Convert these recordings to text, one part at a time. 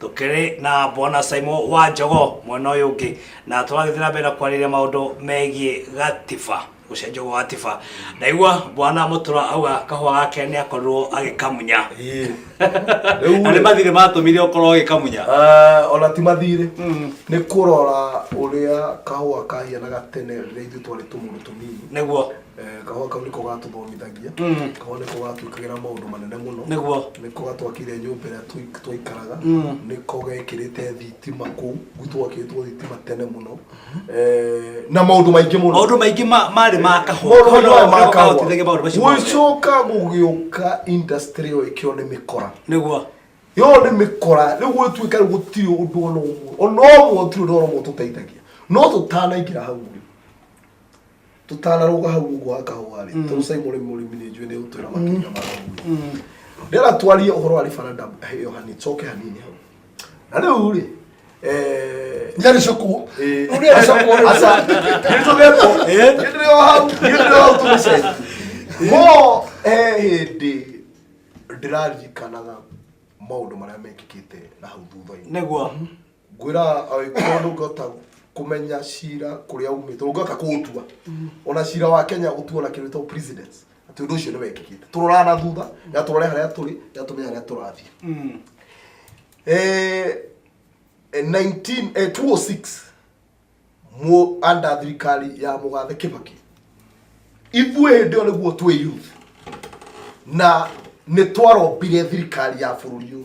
tukiri na bwana Simon wa njogo mwena uyu ungi na turagithii na mbere na kwariria maundu megie gatiba gucenjio gwa gatiba ndaigua bwana mutura auga kahua gake ni akorirwo agikamunya Ĩĩ. Rĩu na nĩ rĩ, mathirĩ matũmire ũkorwo ũgĩkamunya eh, ona ti mathirĩ nĩ kũrora ũrĩa kahũa kahianaga tene rĩrĩa ithuĩ twarĩ tũmũndũ tũnini nĩguo Eh, kahũa kau nĩko gatũthomithagia Mm. kahũa nĩko gatwĩkagĩra maũndũ manene mũno Nĩguo. nĩko gatwakire nyũmba ĩrĩa tũi- twaikaraga Mm. nĩko gekĩrĩte thitima kũu gũtwakĩtwo thitima tene mũno Eh, na maũndũ maingĩ mũno Maũndũ maingĩ ma- marĩ ma kahũa. Maũndũ Kahũa maingĩ nĩko ma kahũa. kahotithagia maũndũ macio mothe. gũcoka gũgĩũka industry ĩyo ĩkĩo nĩ mĩkora Nĩguo. yo nĩ mĩkora rĩu gwĩtuĩka rĩu gũtirĩ ũndũ ona ũmwe ona ũmwe gũtirĩ ũndũ ona ũmwe tũteithagia no tũtanaingĩra hau rĩ tũtanarũga hau ũguo wa kahũa rĩ tondũ sai mũrĩmi mũrĩmi nĩ njũĩ nĩ ũtwĩra makĩria ma ũguo ndĩra twarie ũhoro wa referendum ĩyo hanini coke hanini hau na rĩu rĩ eh, nĩarĩcokwo eh, Ũrĩa- acokwo rĩ- aca nĩtũgetwo nĩndĩrĩ o hau nĩndĩrĩ o hau tũgĩcenjia mo eh, hĩndĩ ndĩraririkanaga maũndũ marĩa mekĩkĩte na hau thutha-inĩ nĩguo ngwĩraga agĩkorwo ndũngĩhota kũmenya cira kũrĩa umĩte ndũngĩhota kũũtua ona cira wa kenya ũtuo na kĩndũ gĩtagwo precedence atĩ ũndũ ũcio nĩ wekĩkĩte tũroraga na thutha na tũrore harĩa tũrĩ na tũmenye harĩa tũrathiĩ Eh, eh, 19 eh, 206 mu anda thirikari ya mũgathe kĩbaki ithuĩ hĩndĩ ĩyo nĩguo twĩ youth na nĩ twarombire thirikari ya bũrũri ũyũ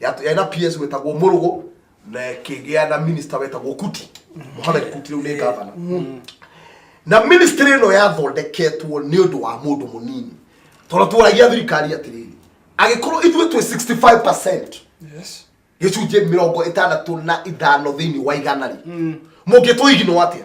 Yat- yarĩ na ps wetagwo mũrũgũ na kĩgĩa na minista wetagwo kuti mohamed kuti rĩu nĩ ngavana na ministry ĩno yathondeketwo nĩ ũndũ wa mũndũ mũnini tondũ twaragia thirikari atĩrĩrĩ agĩkorwo ithuĩ twĩ 65 Yes. gĩcunjĩ mĩrongo ĩtandatũ na ithano thĩinĩ wa igana rĩ mũngĩtũiginwo atĩa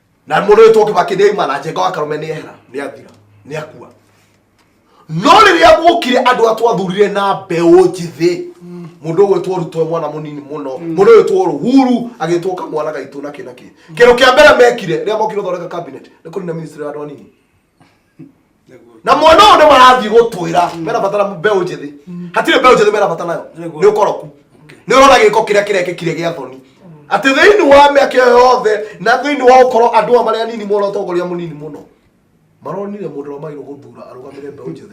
na mũndũ wĩtwo kĩbakĩndĩ aima na njenga wa karũme nĩ ehera nĩ athira nĩ akua no rĩrĩa guokire andũ a twathurire na mbeũ njĩthĩ mũndũ ũgwĩtwo rutwo mwana mũnini mũno mũndũ ũgwĩtwo ruhuru agĩtwo kamwana gaitũ na kĩ na kĩ kĩndũ kĩa mbere mekire rĩrĩa mokire thondeka cabinet nĩ kũnina ministry ya andũ anini na mwana ũyũ nĩ marathiĩ gũtwĩra merabatara mbeũ njĩthĩ hatirĩ mbeũ njĩthĩ merabatara nayo nĩ ũkoroku nĩ ũrona gĩko kĩrĩa kĩrekĩkire gĩa thoni atĩ thĩinĩ wa mĩaka ĩyo yothe na thĩinĩ wa gũkorwo andũ aya marĩa anini mona ũtongoria mũnini mũno maronire mũndũ ũrĩa magĩrĩirwo gũthura arũgamĩre mbeũ njĩthĩ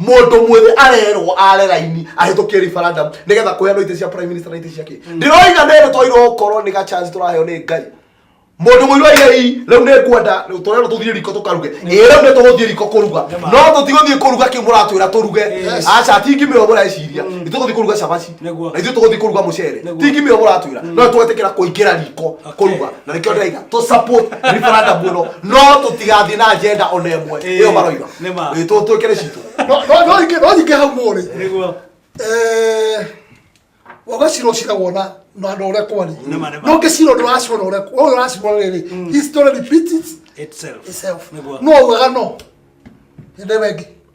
Mũndũ mwĩthĩ arerwo are raini ahĩtũkie referendum nĩgetha kũheanwo itĩ cia prime minister na itĩ cia kĩ. Ndĩroiga nĩ nĩ twairwo gũkorwo nĩ ga chance tũraheo nĩ Ngai. Mũndũ mũirũ aiga ii rĩu nĩ ngwenda tũrerwo tũthiĩ riko tũkaruge. Ĩ rĩu nĩ tũgũthiĩ riko kũruga. No tũtigũthiĩ kũruga kĩu mũratwĩra tũruge. Aca ti ngimĩrwo mũreciria. Nĩ tũgũthiĩ kũruga cabaci. Nĩguo. na ithuĩ tũgũthiĩ kũruga mũcere Nĩguo. ti ngimio mũratwĩra no tũgwetĩkĩra kũingĩra riko kũruga na nĩkĩo ndĩraiga tũ support referendum ĩno no tũtigathiĩ na agenda ona ĩmwe Ĩĩ, ĩyo maroiga nĩ ma. Ĩĩ, tũ- twĩkĩre citũ No- no- no nyingĩ- no nyingĩ hau mũrĩ Nĩguo. Eh, wagacira ũcira wona na andå å rä a kwarä Nĩ ma, nĩ ma. no ngä cira å ndå ũracirwo na å rä a å yå ũracirwo rä rä history repeats Itself. itself Nĩguo. no ugaga no nä ndä wengä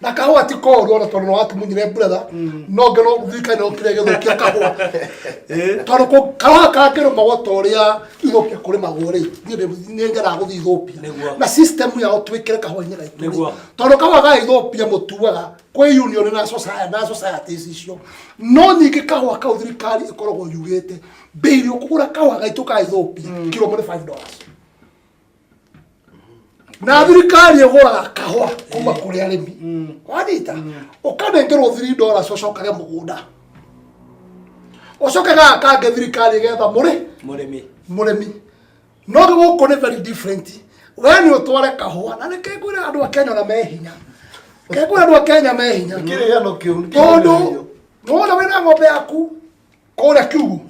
na kahua ti koru ona tondu wakimunyire brother mm. no ngero thirikari no kire githukia kahua eh? tondu ko kahua kangero magwa toria ithukia kuri magwa ri ni ngera guthi ithupia na system ya utwikire kahua nyira itu tondu kahua ga ithupia mutuaga kwi union na society na society icio no nyingi kahua kau thirikari ikoragwo yugite mbei ri ukugura kahua gaitu ka ithupia mm. kiro muri 5 dollars na thirikari ĩgũraga kahũa kuma kũrĩ arĩmi mm. wanyita mm. ũkanengerwo thiri ndora cocokage mũgũnda ũcoke gaga kange thirikari getha mũrĩ mũrĩmi mũrĩmi no gũkũ nĩ very different we nĩ ũtware kahũa na nĩ kengwĩra andũ a kenya na me hinya kengwĩra andũ a kenya me hinya tondũ nona wĩna ng'ombe yaku kũrĩa kiugu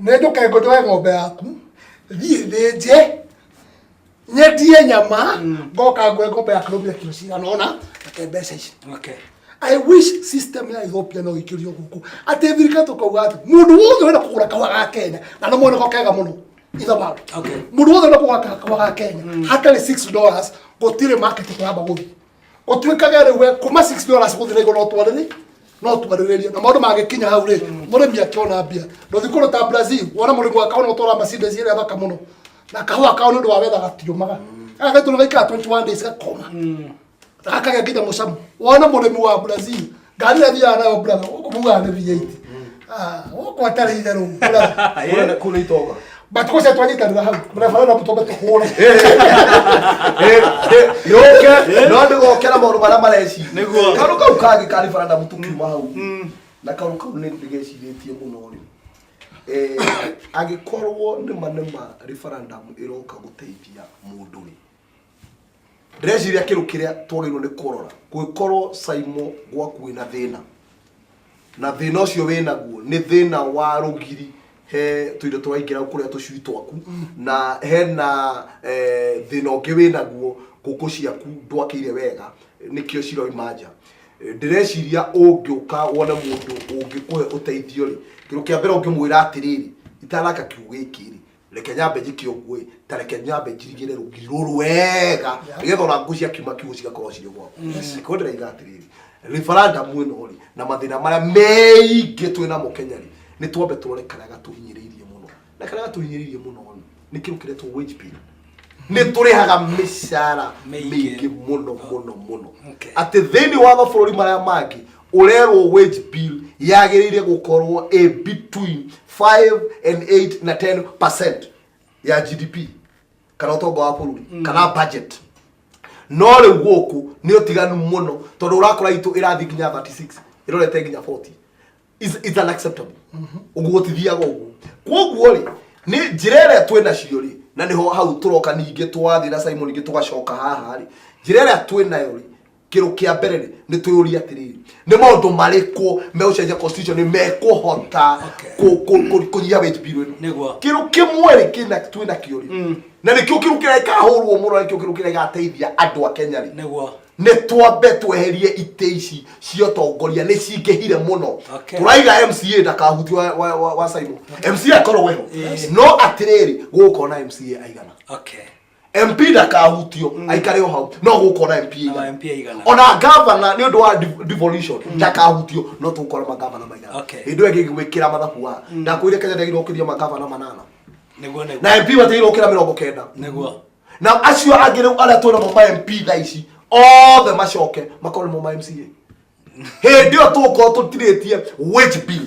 nĩ njũke ngũnjoe ng'ombe yaku thiĩ thĩnje nyendie nyama ngoka ngoe ng'ombe ya kĩrũmbe kiro cigana ona reke mbeca ici I wish system ya Ethiopia no ikĩrio gũkũ atĩ thirikari tũkauga atĩ mũndũ wothe wenda kũgũra kahũa ga Kenya na nĩ moneko kega mũno ithabaru mũndũ wothe wenda kũgũra kahũa ga Kenya hatarĩ 6 dollars gũtirĩ market tũramba gũthiĩ ũtuĩkage rĩu we kuma 6 dollars gũthiĩ na igũrũ no twarĩrĩ no twarĩrĩrie na maũndũ mangĩkinya hau rĩ mũrĩmi akĩona mbia ndũthi kũndũ ta brazil wona mũrĩmi wa kaũna ũtwara mercedes ĩrĩa thaka mũno na kahũa kao nĩ ũndũ wa wetha gatiũmaga gaka gaitũ nĩ gaikara 21 days gakoma gakagĩa nginya mũcamo wona mũrĩmi wa brazil ngari ĩrĩa thiaga nayo brother gũkũ mugaga nĩ biainĩ Ah, gũkũ atarĩ itherũ brother Kule- kule itoga batukose twanyitanĩra hau barabara no tũtombe tũhũre yũke no ndĩgokera maũndũ marĩa mareci Nĩguo. karu kau kangĩ karĩ bara ndamu tũkiuma hau na karu kau nĩ ndĩgecirĩtie mũno rĩ Eh, angĩkorwo nĩma nĩma referendum ĩroka gũteithia mũndũ rĩ ndĩreciria kĩndũ kĩrĩa twagĩrĩirwo nĩ kũrora kũngĩkorwo saimo gwaku wĩna thĩna na thĩna ũcio wĩnaguo nĩ thĩna wa rũgiri he tũindo tũraingĩra kũrĩa tũcui twaku na hena eh, thĩna ũngĩ wĩnaguo ngũkũ ciaku ndwakĩire wega nĩkĩo ciroima nja Eh, ndĩreciria ũngĩũka wone mũndũ ũngĩkũhe ũteithio rĩ kĩndũ kĩa mbere ũngĩmwĩra atĩrĩrĩ itanaka kiugo gĩkĩ rĩ reke nyambe njĩke ũguo ĩ ta reke nyambe njirigĩre rũgiri rũrũ wega nĩgetha ona ngũ ciakiuma kiugo cigakorwo cirĩ gwaku ko ndĩraiga atĩrĩrĩ referendum ĩno rĩ na mathĩna marĩa meingĩ twĩ namo kenya rĩ nĩ twambe tũrore karĩa gatũhinyĩrĩirie mũno na karĩa gatũhinyĩrĩirie mũno rĩ nĩ kĩndũ kĩretwo wage bill nĩ tũrĩhaga mĩcara Mĩingĩ. mĩingĩ mũno mũno mũno Okay. atĩ thĩinĩ wa mabũrũri marĩa mangĩ ũrerwo wage bill yagĩrĩire gũkorwo a between 5 and 8 na 10 percent ya gdp kana ũtonga wa bũrũri mm. kana budget no rĩu gũkũ nĩ ũtiganu mũno tondũ ũrakora itũ ĩrathiĩ nginya 36 ĩrorete nginya 40 is, is unacceptable mm-hmm. ũguo tithiaga ũguo kwoguo rĩ nĩ njĩra ĩrĩa twĩ nacio rĩ na nĩho hau tũroka ningĩ twathiĩ na simon ingĩ tũgacoka haha rĩ njĩra ĩrĩa twĩ nayo rĩ kĩrũ kĩa mbere rĩ nĩ twĩyũria atĩrĩrĩ nĩ maũndũ marĩkũ megũcenjia constitution nĩ mekũhota kũ- kũ- kũ- kũnyihia wage bill ĩno Nĩguo. kĩrũ kĩmwe rĩ kĩna twĩ nakĩo rĩ na nĩkĩo kĩrũ kĩrĩa gĩkahũrwo mũno na nĩkĩo kĩrũ kĩrĩa gĩgateithia andũ a kenya rĩ nĩguo nĩ twambe tweherie itĩ ici cia ũtongoria nĩ cingĩhire mũno Okay. tũraiga mca ndakahutio wa- wa- wa- wa saimo mca akorwo weho no atĩrĩrĩ gũgũkorwo na mca aigana okay mp ndakahutio aikare o hau no gũkora mp Ama MP aigana. ona gavana nĩ ũndũ wa dev- devolution ndakahutio no tũgũkora magavana maigana Okay. hĩndĩ ĩyo ĩngĩ gwĩkĩra mathabu wa ndakwĩre kenya ndagĩrwo kĩria magavana manana nĩguo nĩguo na mp matĩirwo kĩra mĩrongo kenda nĩguo na acio angĩ rĩu arĩa twĩna mo ma mp thaa ici othe macoke makorwo nĩmo ma mca hĩndĩ ĩyo tũgũkorwo tũtirĩtie wage bill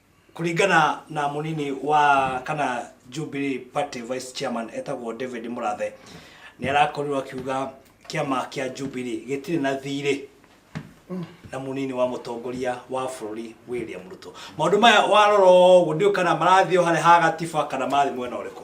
Kũringana na mũnini wa kana Jubilee Party Vice Chairman etagwo David Mũrathe nĩ arakorirwo akiuga kĩama kĩa Jubilee gĩtirĩ na thirĩ na munini wa mutongoria wa bururi William Ruto maundu maya warora uguo ndiu kana marathiĩ harĩa ha gatiba kana marathiĩ mwena ũrĩkũ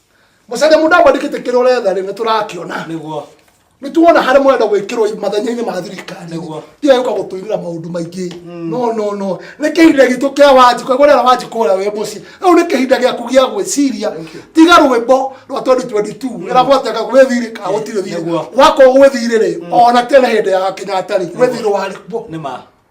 Mũcene mũndũ amwandĩkĩte kĩrĩa ũretha rĩ nĩ tũrakĩona. Nĩguo. Nĩ tuona harĩa mũrenda gwĩkĩrwo mathenya-inĩ ma thirikari. Nĩguo. Tiga gũka gũtũirĩra maũndũ maingĩ. Mm. No no no. Nĩ kĩhinda gitũ kĩa wanji kwa gwetha wanji kũrĩa wĩ mũciĩ. Rĩu nĩ kĩhinda gĩaku gĩa gwĩciria. Tiga rwĩmbo rwa 2022. Mm. Ĩra gwateka gwĩthirĩ ka gũtirĩ thirĩ. Wakorwo gwĩthirĩ rĩ mm. ona tena hĩndĩ ya Kenyatta rĩ gwĩthirĩ warĩ kuo. Nĩ ma.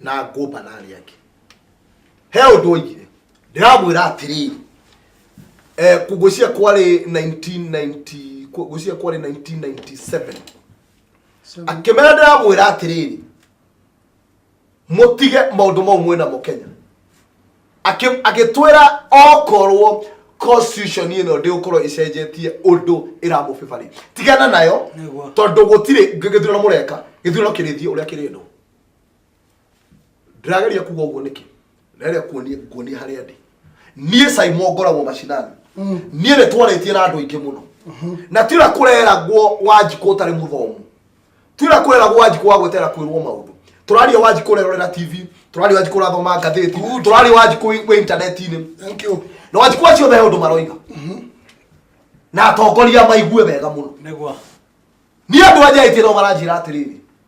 na ngũmba na arĩa angĩ he ũndũ oigire ndĩramwĩra atĩrĩrĩ eh, ngũcia kwarĩ 1990 ngũcia kwarĩ 1997 akĩmera ndĩramwĩra atĩrĩrĩ mutige maundu mau mwena mo kenya agĩtwĩra okorwo constitution ĩno ndĩgũkorwo ĩcenjetie ũndũ ĩramũbĩbarĩ tigana nayo tondũ gũtirĩ gĩthurano mũreka gĩthurano kĩrĩthiĩ ũrĩa kĩrĩndwo ndĩrageria kuga ũguo nĩkĩ ndĩrageria kuonia kuonia harĩa ndĩ niĩ saimo ngoragwo macinani niĩ nĩ twarĩtie na andũ aingĩ mũno na tira kũreragwo wanjikũ ũtarĩ mũthomu tira kũreragwo wanjikũ wa gwetera kwĩrwo maũndũ tũraria wanjikũ ũrerorera tv tũraria wanjikũ ũrathoma ngathĩti tũraria wanjikũ wĩ wĩ intaneti-inĩ thank you na wanjikũ acio othe he ũndũ maroiga na atongoria maigue wega mũno nĩgwa niĩ andũ anja aingĩ no maranjĩra atĩrĩrĩ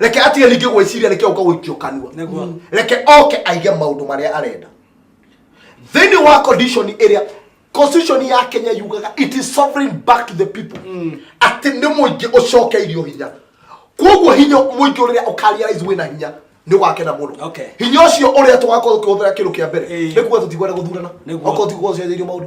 reke atige ningĩ gwĩciria reke ũka gũikio kanua reke oke aige maũndũ marĩa arenda thĩinĩ wa condition ĩrĩa constitution ya kenya yugaga it is sovereign back to the people atĩ nĩ mũingĩ ũcokeirio hinya koguo hinya mũingĩ ũrĩa ũkarealize wĩna hinya nĩ wakena mũno Okay. hinya ũcio ũrĩa tũgakorwo tũkĩhũthĩra kĩndũ kĩa mbere Ĩĩ. nĩ kuga tũtikwenda gũthurana Nĩguo. okorwo tiguo ũcenjeirio maũndũ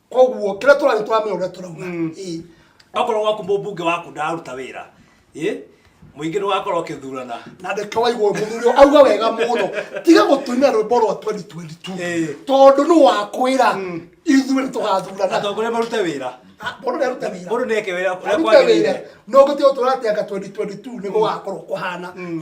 koguo kira turani turamenya uria turauga mm. okorwo gwaku mbunge waku ndaruta wira muingi ni wakorwo ukithurana na ndeke waigwo muthuri auga wega muno tiga gutumia rwimbo rwa 2022 tondu ni wakwira mm. ithuĩ nĩ tũgathurana atongoria marute wĩra ah, mũndũ nĩ arute wĩra mũndũ neke wĩra kũrĩa kwagĩrĩire no gũtĩ ũtũra atĩ anga 2022 nĩ gũgakorwo kũhana mm.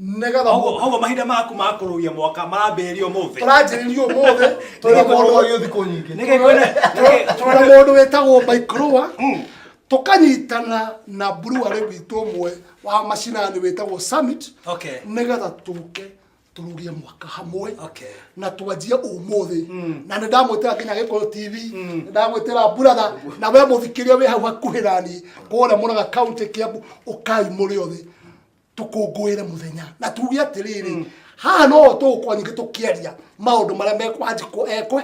nĩgetha Koguo- koguo mahinda maku ma kũrũgia mwaka marambĩrĩria ũmũthĩ tũranjĩrĩria ũmũthĩ tũrĩ na mũndũ wa gĩũthi kũ nyingĩ Nĩkĩ kwĩna- nĩkĩ- tũrĩ na mũndũ wĩtagwo maikrũa Mm. tũkanyitana na mburuarĩ witũ ũmwe wa macinani wĩtagwo summit Okay. nĩgetha tũke tũrugie mwaka hamwe Okay. na twanjie ũmũthĩ na nĩ ndamwĩtĩra nginya gĩkũyũ tv nĩ ndamwĩtĩra buratha na we mũthikĩria wĩ hau hakuhĩ nani kũrĩa mũraga kaunti kĩambu ũkai mũrĩ othe tũkũngũĩre mũthenya na tuge atĩrĩrĩ mm. haha no tũgũkorwo nyingĩ tũkĩaria maũndũ marĩa mekwanjĩkwo ekwe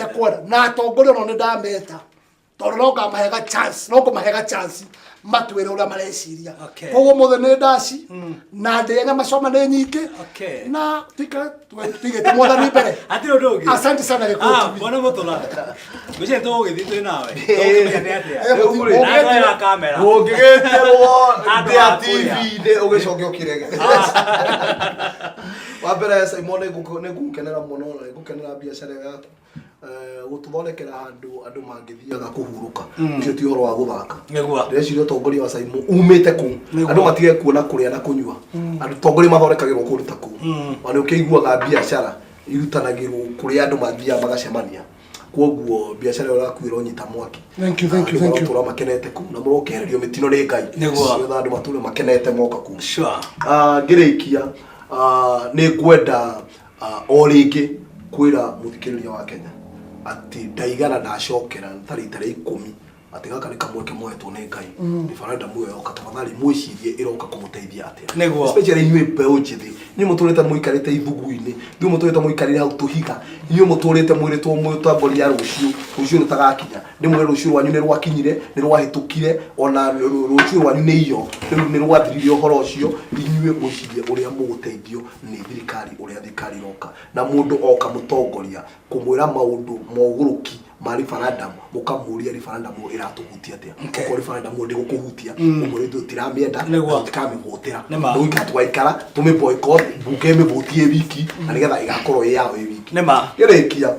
ekwenda na atongoria no nĩ ndameta tondũ no ngamahega chance no ngũmahega chance matwĩre ũrĩa mareciria koguo mũthĩ nĩ ndaci mm. na ndĩe nyama coma nĩ nyingĩ na tika tutige tumwathani mbere hatirä å ndå å ngä asante sana Gĩkũyũ Ah, TV. mwana må tå ra gå cirä tå gå gä thiä twä nawe nawe kamera ũngĩgĩterwo Andũ ndĩa a kũrĩa. tv-inĩ ũgĩcoke ũkĩrege wa mbere simon nĩngũkenera mũno na nĩngũkenera biacara ĩyo yaku gũtũthondekera handũ andũ mangĩthiaga kũhurũka mm. ũcio ti ũhoro wa gũthaka ndĩreciria ũtongoria wa caimo umĩte kũ andũ matige kuona kũrĩa na kũnyua mm. andũ tongoria mathondekagĩrwo kũndũ ta kũu mm. ona ũkĩiguaga biacara irutanagĩrwo kũrĩa andũ mathiaga magacemania kwoguo biacara ĩyo ĩrakuĩra ũnyita mwaki tũra makenete kuu na mũrokehererio mĩtino nĩ ngai nĩgetha andũ matũre makenete moka kuu ah, ngĩrĩkia ah, nĩ ngwenda ah, o rĩngĩ kwĩra mũthikĩrĩria wa kenya atĩ ndaigana ndacokera ta rita rĩa ikũmi atĩ gaka nĩ kamweke moetwo nĩ ngai Mm. referendum ĩyo yoka tafadhali mwĩcirie ĩroka kũmũteithia atĩa Nĩguo. especially inyuĩ mbeũ njĩthĩ inyuĩ mũtũrĩte mũikarĩte ithugu-inĩ inyuĩ mũtũrĩte mũikarĩte hau tũhiga inyuĩ mũtũrĩte mwĩrĩtwo mũtongoria rũciũ rũciũ rũtagakinya ndĩmwĩre rũciũ rwanyu nĩ rwakinyire nĩ rwahĩtũkire ona rũ- rũ- rũciũ rwanyu nĩ iyo rĩu nĩ rwathirire ũhoro ũcio inyuĩ mwĩcirie ũrĩa mũgũteithio nĩ thirikari ũrĩa thirikari ĩroka na mũndũ oka mũtongoria kũmwĩra maũndũ mogũrũki ma referendum mũkamũria referendum ĩyo ĩratũhutia atĩa Okay. ko referendum ĩyo ndĩgũkũhutia ũguo nĩ tũtiramĩenda Nĩguo. tũtikamĩhũtĩra Nĩ ma. rĩu ithuĩ twaikara tũmĩ boycott mbunge ĩmĩhutie wiki na nĩgetha ĩgakorwo ĩ yao ĩ wiki Nĩ ma. ĩrĩkia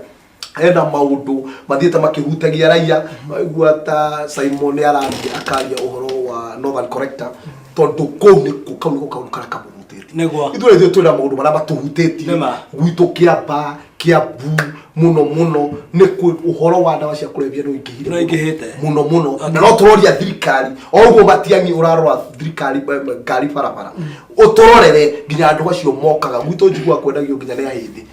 hena maundu mathiite makihutagia raia waigua ta Simon araria akaria uhoro wa Northern Corrector tondu kuu niku kau niku kaundu karia kamuhutitie Nĩguo. ithuĩ ithuĩ twĩna maundu maria matuhutĩtie Nĩma. gwitũ kĩamba kĩambu muno muno nĩ kwĩ ũhoro wa ndawa cia kũrebia nĩ Nĩ ũingĩhĩte. muno muno na no tũroria thirikari o ũguo matiangi ũrarora thirikari ba- ba- ngari barabara ũtũrorere nginya andũ acio mokaga gwitũ njigua kwendagio nginya nĩ ahĩndĩ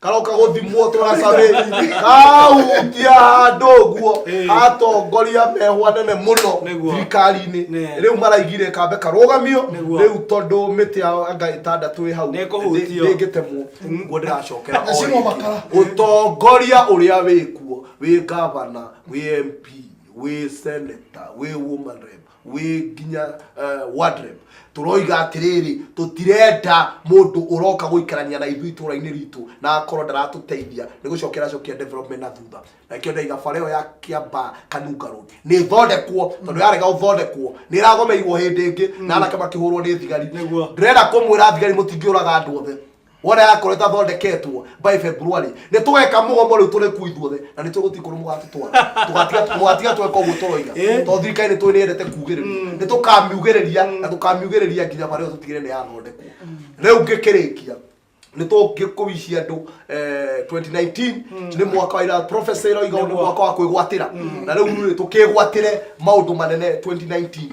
karoka guthimwo turacabi kahutia handu guo atongoria mehwa nene muno thirikari-ini riu maraigire kambe karugamio riu tondu miti yao anga itandatu i hau ndingitemwo guo ndiracokera utongoria uria wikuo wi gavana wi mp wi senator wi woman rep wĩ nginya uh, wardrobe turoiga atiriri tutirenda mundu uroka guikarania na ithui tura-ini ritu na akorwo ndaratuteithia ni gucokera cokia development na thutha na kio ndaiga bara iyo ya kiamba kanunga road ni thondekwo tondu yarega uthondekwo ni iragomeirwo hindi ingi na anake makihurwo ni thigari Nĩguo. ndirenda kumwira thigari mutingiuraga andu othe Wona yakorwo ĩtathondeketwo by February, nĩ tũgeka mũgomo rĩu tũrĩku ithuothe na nĩ tũgũti kũrũ mũgatũtwara. Tũgatiga tũgatiga tweka ũguo tũroiga. Eh. Tondũ thirikari nĩ tũĩ nĩ yendete kugĩrĩria. Nĩ tũkamiugĩrĩria na tũkamiugĩrĩria nginya bara ĩyo tũtigĩrĩre nĩ yathondekwo. Rĩu ngĩkĩrĩkia, nĩ tũngĩkũici andũ eh, 2019 nĩ mwaka wa ira prophecy ĩroiga nĩ mwaka wa kwĩgwatĩra. Na rĩu rĩ, tũkĩgwatĩre maũndũ manene 2019.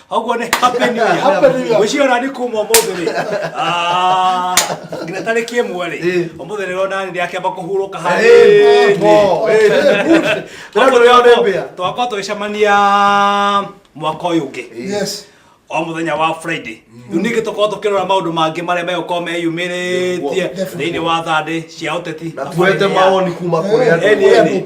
Haguo nĩ happy new year. Happy New Year. Gwĩciria ona nĩ kuma ũmũthĩ rĩ. Ah, nginya tarĩki ĩmwe rĩ. Eh. Ũmũthĩ rĩ rona nĩ akĩamba kũhurũka Eh, harĩ. mo, eh, eh, good. Tena Koguo tũrĩa twakwa- ũrembea. Twakwa tũgĩcemania mwaka ũyũ ũngĩ. Yes. o mũthenya wa friday rĩu ningĩ tũkorwo tũkĩrora maũndũ mangĩ marĩa megũkorwo meyumĩrĩtie Definitely. thĩinĩ wa thandĩ cia ũteti na tuete mawoni kuma kũrĩ andũ Eni, eni.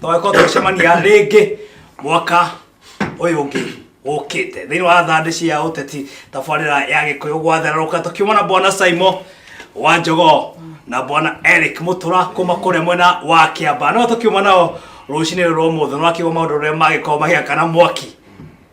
twakorwo tũgĩcemania rĩngĩ mwaka ũyũ ũngĩ ũkĩte thĩinĩ wa thandĩ cia ũteti tabarĩra ya gĩkũyũ gwathererũka tũkiuma na bwana saimo wa njogo na bwana eric mũtũra kuma kũrĩa mwena wa kĩamba no tũkiuma nao rũcinĩ rũrũ ũmũthĩ nwakiuga maũndũ ũrĩa magĩkorwo magĩakana mwaki